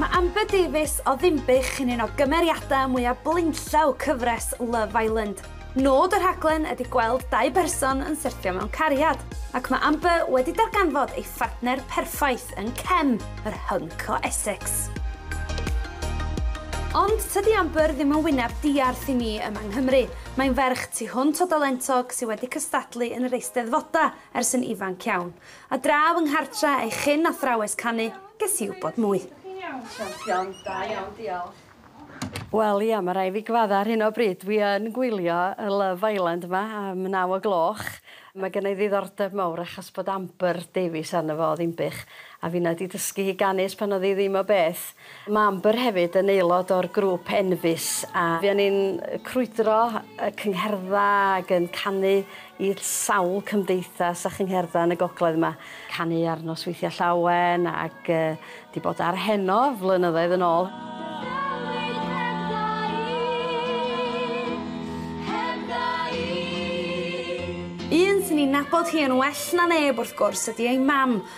Mae Amber Davies o Ddinbych yn un o gymeriadau mwyaf blaenllaw cyfres Love Island. Nod y rhaglen ydy gweld dau berson yn syrthio mewn cariad, ac mae Amber wedi darganfod ei phartner perffaith yn Kem, yr hunk o Essex. Ond tydi Amber ddim yn wyneb diarth i ni yma yng Nghymru. Mae'n ferch tu hwnt o dalentog sydd wedi cystadlu yn yr Eisteddfodau ers yn ifanc iawn. A draw yng nghartre ei chyn athrawes canu, ges i wybod mwy. Ydych chi'n iawn, champion? Da iawn, diolch. Wel ia, ma rai fi gyfadda ar hyn o bryd, dwi yn gwylio y Love Island yma am naw o gloch. Mae gynna i ddiddordeb mawr achos bod Amber Davies arno fo o Ddinbych, a finna di dysgu hi ganu ers pan oedd hi ddim o beth. Mae Amber hefyd yn aelod o'r grŵp Enfys a fuon ni'n crwydro y cyngherddau ac yn canu i sawl cymdeithas a chyngherddau yn y gogledd 'ma. Canu ar Nosweithiau Llawen ac 'di bod ar heno flynyddoedd yn ôl. Un sy'n ei nabod hi yn well na neb wrth gwrs ydi ei mam,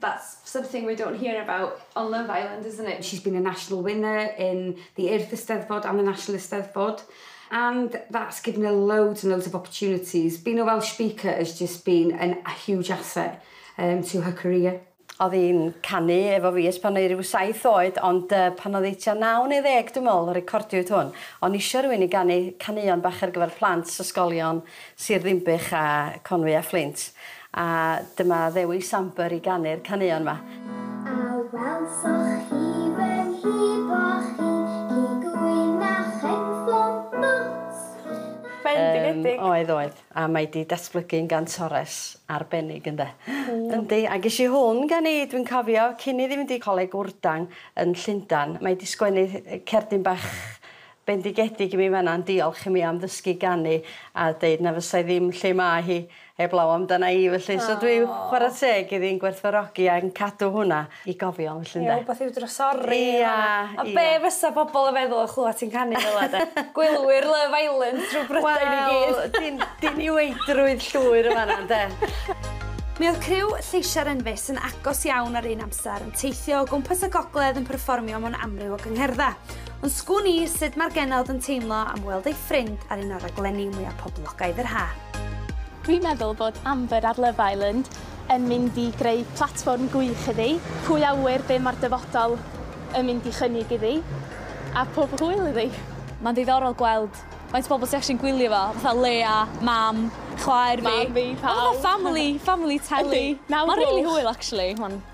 That's something we don't hear about on Love Island, isn't it? She's been a national winner in the Earth Eisteddfod and the National Eisteddfod and that's given her loads and loads of opportunities. Being a Welsh speaker has just been an, a huge asset um, to her career. Oedd hi'n canu efo fi ers pan oedd rhyw saith oed, ond uh, pan oedd hi tua naw neu ddeg, dwi'n meddwl, recordiwyd hwn. O'n isio rhywun i ganu canuon bach ar gyfer plant, ysgolion, Sir Ddinbych a Conwy a Fflint, a dyma Ddewi Samber i ganu'r caneuon 'ma. Bendigedig! Oedd, oedd. A mae 'di datblygu'n gantores arbennig ynde? Yndi, a gesh i hwn gen i, dwi'n cofio, cyn i fi fynd i Coleg Wrdang yn Llundan. Mae 'di sgwennu cerdyn bach Bendigedig i mi fan'na yn diolch i mi am ddysgu ganu a deud na fysai ddim lle mae hi heblaw amdana i felly so dwi chwara teg iddi'n gwerthfawrogi a yn cadw hwnna i gofio felly ynde? Ie wbath i'w drysori yn fan'na. Ia ia. A be' fysa pobol yn feddwl yn clwad ti'n canu fela de? Gwylwyr Love Island drw Brydain i gyd. Wel din- diniweidrwydd llwyr yn fan'na ynde? Mi oedd criw Lleisia'r Enfys yn agos iawn ar un amser yn teithio o gwmpas y gogledd yn perfformio mewn amryw o gyngherdda. Ond sgwn i sut mae'r genod yn teimlo am weld ei ffrind ar un o'r raglenni mwya poblogaidd yr haf. Dwi'n meddwl bod Amber ar Love Island yn mynd i greu platfform gwych iddi, pwy a ŵyr be mae'r dyfodol yn mynd i chynnig iddi, a pob hwyl iddi! Mae'n ddiddorol gweld faint o bobl sydd actually'n gwylio fo, fatha Leia, Mam, chwaer fi. Mam fi, pawb. Fatha family, family telly. Yndi, nawr gloch. Mae'n rili hwyl actually, mae'n...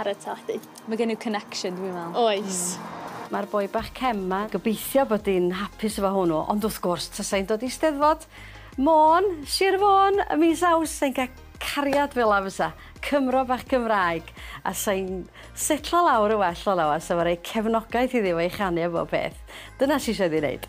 Ar y teledu. Mae gen i'w connection dwi'n meddwl. Oes. Mae'r boi bach cem 'ma, gobeithio bod hi'n hapus efo hwnnw, ond wrth gwrs tasa hi'n dod i Steddfod Môn, Sir Fôn, y mis Awst, sa hi'n cael cariad fel 'na fysa, Cymro bach Cymraeg, a sa hi'n setlo lawr yn well fel 'na, a sa fo'n rhoi cefnogaeth iddi efo ei chanu a bob peth. Dyna sy isio iddi wneud.